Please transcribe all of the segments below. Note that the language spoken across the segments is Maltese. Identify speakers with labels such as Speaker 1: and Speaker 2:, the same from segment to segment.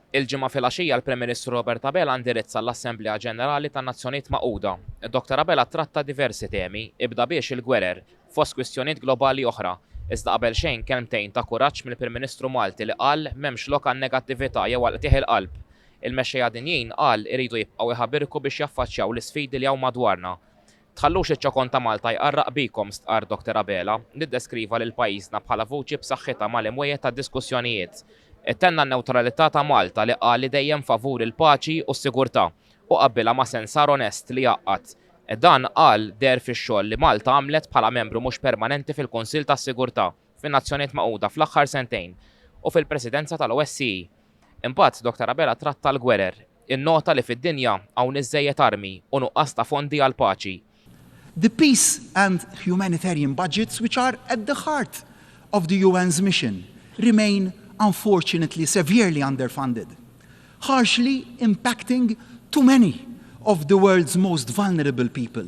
Speaker 1: Il-Ġimgħa filgħaxija l-Prim Ministru Robert Abela ndirizza l-Assemblea Ġenerali tan-Nazzjonijiet Magħquda. Dr Abela ttratta diversi temi, ibda biex il-gwerer, fost kwistjonijiet globali oħra. Iżda qabel xejn kelmtejn ta' kuraġġ mill-Prim Ministru Malti li qal m'hemmx lok għan-negattività jew għall-qtigħ il-qalb. Il-mexxejja dinjin, qal, iridu jibqgħu jħabirku biex jaffaċċjaw l-isfidi li hawn madwarna. Tħallux iċ-ċokon ta' Malta jqarraq bikom, stqarr Dr Abela, li ddeskriva lil pajjiżna bħala vuċi b'saħħitha mal-imwiegħed tad-diskussjonijiet. Ittenna n-newtralità ta' Malta li qal li dejjem favur il-paċi u s-sigurtà u qabbilha ma' sensar onest li jgħaqqad. Dan, qal, deher fix-xogħol li Malta għamlet bħala membru mhux permanenti fil-Kunsill tas-Sigurtà. fin-Nazzjonijiet Magħquda fl-aħħar sentejn u fil-Presidenza tal-OSCE. Imbagħad Dr Abela tratta l-gwerer, innota li fid-dinja hawn iżżejjed armi u nuqqas ta' fondi għall-paċi. The peace
Speaker 2: and humanitarian budgets which are at the heart of the UN's mission remain unfortunately severely underfunded, harshly impacting too many of the world's most vulnerable people.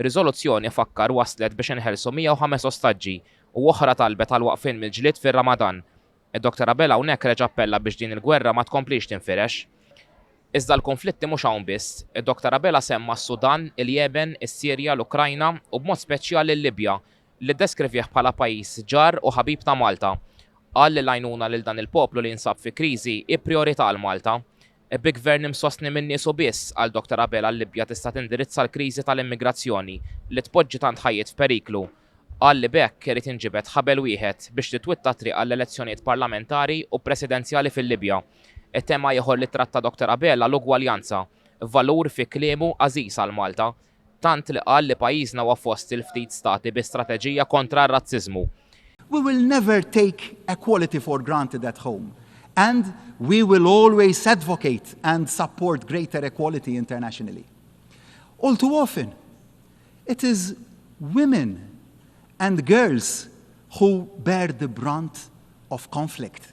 Speaker 1: Ir-riżoluzzjoni fakkar wasslet biex inħelsu 105 ostaġġi u oħra talbet għal waqfien mill-ġlied fir-Ramadan. Id-Dr Abela hawnhekk reġa' appella biex din il-gwerra ma tkomplix tinfirex. Iżda l-kunflitti mhux hawn biss. Id-Dr Abela semma s-Sudan, il-Jemen, is-Sirja, l-Ukrajna u b'mod speċjali l-Libja li ddeskrivih bħala pajjiż ġar u ħabib ta' Malta. Qal li l-għajnuna lil dan il-poplu li jinsab fi kriżi hi prijorità għal Malta. Bi gvern imsostni minn niesu biss, qal Dottor Abela l-Libja tista' tindirizza l-kriżi tal-immigrazzjoni li tpoġġi tant ħajjiet f'periklu. Qal li b'hekk irid jinġibed ħabel wieħed biex titwitta t-triq għall-elezzjonijiet parlamentari u presidenzjali fil-Libja. Tema ieħor li ttratta Dottor Abela l-ugwaljanza, valur fi kliemu għażiż għal Malta tant li qal li pajjiżna huwa fost il-ftit stati bi strateġija kontra r-razziżmu. We will
Speaker 2: never take equality for granted at home and we will always advocate and support greater equality internationally. All too often, it is women and girls who bear the brunt of conflict.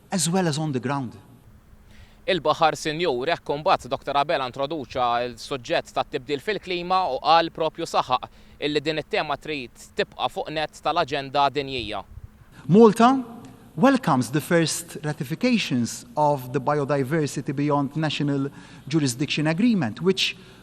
Speaker 2: as well as on the ground.
Speaker 1: Il-Baħar Sinjur, hekk imbagħad Dottor Abela introduċa l-suġġett tat-tibdil fil-klima u qal propju saħaq illi din it-tema trid tibqa' fuq nett tal-aġenda dinjija. Malta
Speaker 2: welcomes the first ratifications of the Biodiversity Beyond National Jurisdiction Agreement, which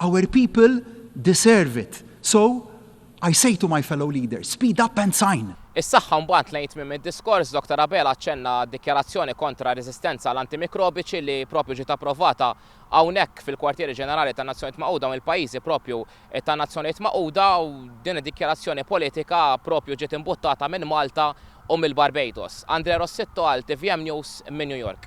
Speaker 2: Our people deserve it, so I say to my fellow leaders, speed up and sign! Is-saħħa mbagħad lejn
Speaker 1: tmiem id-diskors, Doctor Abela aċċenna għad-dikjarazzjoni kontra r-reżistenza għal antimikrobiċi li proprju ġiet approvata hawnhekk fil-Kwartieri Ġenerali tan-Nazzjonijiet Magħquda u mill-pajjiżi proprju tan-Nazzjonijiet Magħquda u din id-dikjarazzjoni politika proprju ġiet imbuttata minn Malta u mill-Barbados. Andrea Rossitto għal tvm News minn New York.